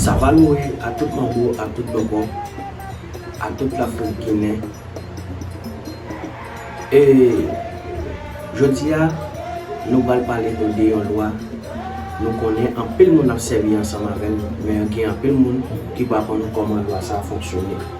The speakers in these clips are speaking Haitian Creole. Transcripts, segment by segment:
Savalori a tout manbo a tout bòbò a tout la foul ginen ee Jodi a nou pral pale nou de yon lwa nou konnen anpil moun ap sèvi ansanm avè l men gen anpil moun ki pa konn kòman lwa sa fonksyone.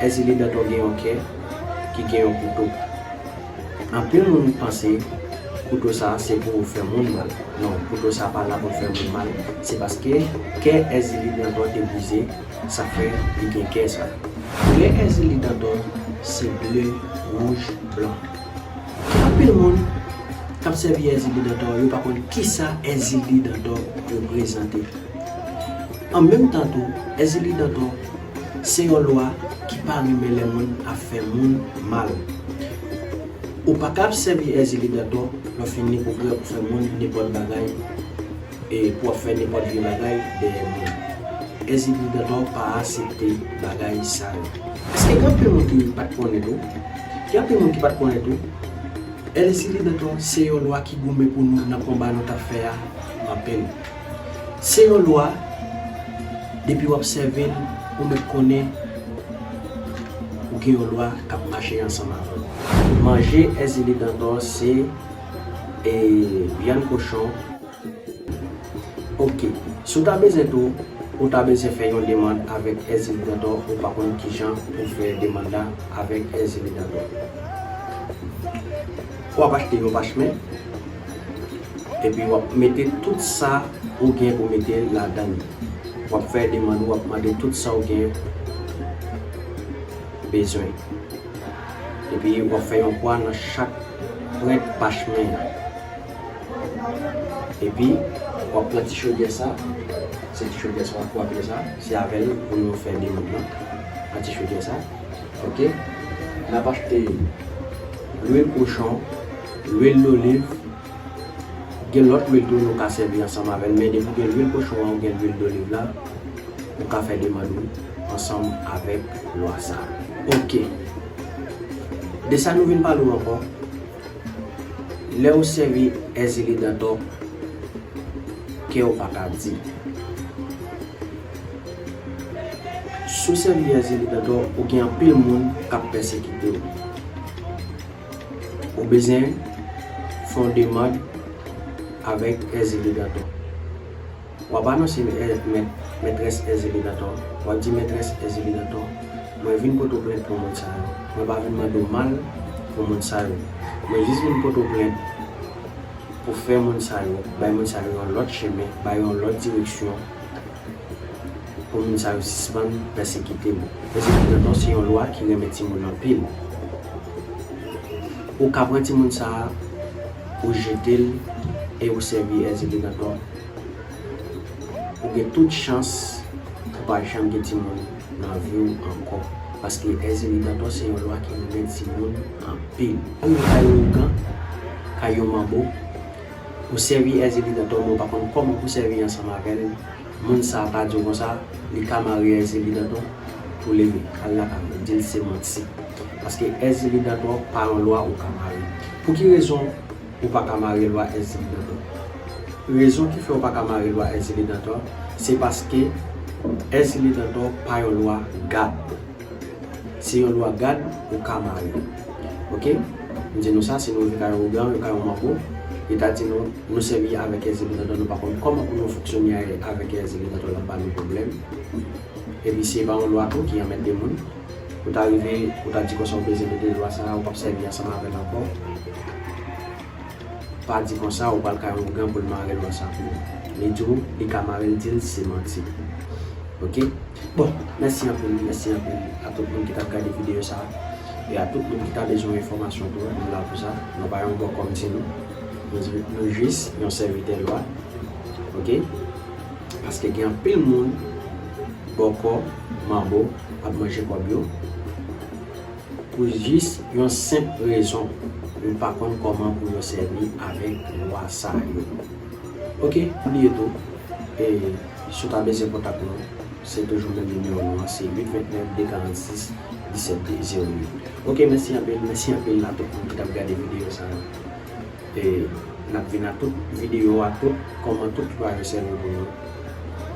Èzili Dantò gen yon kè ki gen yon kouto. Anpil moun panse kouto sa se pou fè moun mal. Non, kouto sa pa la pou l fè moun mal. Se paske kè Èzili Dantò te brize sa fè li gen kè sa. Kè Èzili Dantò se ble, wouj, blan. Gen anpil moun k ap sèvi Èzili Dantò yo pa konn kisa Èzili Dantò reprezante. An menm tan tou, Èzili Dantò. Se yon lwa ki pa renmen lè moun ap fè moun mal. Ou pa kab sèvi èzili dantò lè w fin ni pou prè pou fè moun nenpòt bagay e pou ap fè nenpòt vye bagay dèyè moun. Èzili dantò pa asepte bagay sa yo. Paske gen anpil moun ki pat konnen tou, gen anpil moun ki pat konnen tou, èzili dantò se yon lwa ki goumen pou nou nan konba nou tap fè a anpil. Se yon lwa, depi wap sèvi l, ou mèt konnen ou gen yon lwa kap mache ansanm avè w. Manje Èzili Dantò se e vyann kochon ok. Si w ta bezwen tou, ou ta bezwen fè yon demand avèk Èzili Dantò ou pa konn kijan pou fè demand la avèk Èzili Dantò. Wap achte yon pachemen Epi wap mete tout sa ou gen pou mete ladann yo. Wap fè demann ou wap mande tout sa ou gen bezwen. Epi wap fè yon kwa nan chak pwent pachemen an. Epi wap pran ti chodyè sa, se ti chodyè sa wap kwape sa, se avèl pou nou fè demann nan. Pran ti chodyè sa. Ok. Nap achte lwil kochon. Lwil doliv, gen lòt lwil tou nou ka sèvi ansanm avèl men depi gen lwil kochon an ou gen lwil doliv la ou ka fè demand ou ansanm avèk lwa sa ok de sa nou vin pale ou ankò lèw sèvi èzili dantò kew paka di sou sèvi èzili dantò ou gen anpil moun kap pèsekitew. Ou bezyen fè yon demand avèk èzilidantò. W ap anonse mèt, mètrès èzilidantò. W ap di mètrès èzilidantò, mwen vin poto plent pou moun sa yo. Mwen pa vin mande w mal pou moun sa yo. Mwen jis vin poto plent pou fè moun sa yo, bay moun sa yo yon lòt chemen, ba yo yon lòt direksyon pou moun sa yo sispann pèsekite nou. Pèsekite nou non se yon lwa ki renmen timoun anpil. Ou ka pran timoun sa a, ou jete l e ou sèvi as a denantò. Ou gen tout chans pou pa janm gen timoun nan vi w ankò. Paske as a denantò se yon lwa ki renmen timoun anpil. Kay yon ougan, kay yon manbo. Ou sèvi èzili nan tòmè ou pa konn kòman pou sèvi ansanm avèl moun sa pa diw konsa li ka marye èzili dantò pou leve al lakay mwen dil se manti paske èzili dantò pa yon lwa ou ka marye pouki rezon ou paka marye lwa èzili dantò rezon ki fè ou paka marye lwa èzili dantò se paske èzili dantò pa yon lwa gad. Se yon lwa gad ou ka mare ok m di nou sa si nou rive kay yon blan yon kay yon manbo li ta di nou nou sèvi avèk èzèl predatò nou pa konn kòman pou nou fonksyone avèk èzèl predatò lap ba nou pwoblèm epi si e pa yon lwa tou ki anmède moun ou ta rive ou ta di konsa ou bezwen mete lwa sa ou pap sèvi ansanm avèl ankò. Pa di konsa ou pral kay ougan poul marel wè sa pou ou li di ou li ka marel dil si se manti ok bon mèsi anpil mèsi anpil a tout moun ki tap gade video sa e a tout moun ki ta bezwen enfòmasyon tou nou la pou sa nou pa yon bòkò mnti nou nou jis yon sèvitè lwa ok paske gen anpil moun bòkò manbo ap manje kòb yo. Pou jis yon senp rezon yo pa konn kòman pou yo sèvi avèk lwa sa yo ok bliye tou e si w ta bezyen kontak nou se toujou menm nimewo nou an se 8 29 2 46 17 0 8 ok mèsi anpil mèsi anpil a tout moun ki tap gade videyo sa yo. E nap vin a tout video a tout kòman tout ki pa jwe sèvo nou yo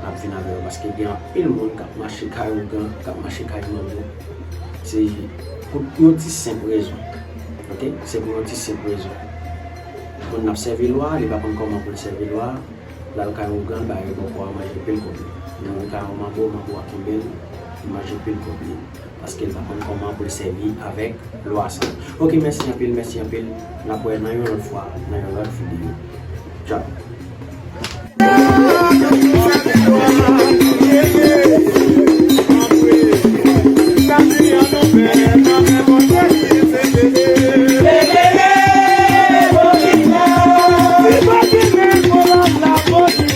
nap vin avè yo paske gen anpil moun kap mache kay ougan kap mache kay manbo se pou yon ti senp rezon ok se pou yon ti senp rezon moun nap sèvi lwa li pa konn kòman poul sèvi lwa lal kay ougan l bay bòkò a manje pil kòb li li vin kay yon manbo manbo a kenbel li manje pil kòb li. Paske l pa konn kòman pou l sèvi avèk lwa sa. Ok mèsi anpil mèsi anpil n ap wè nan yon lòt fwa nan yon lòt video tchau.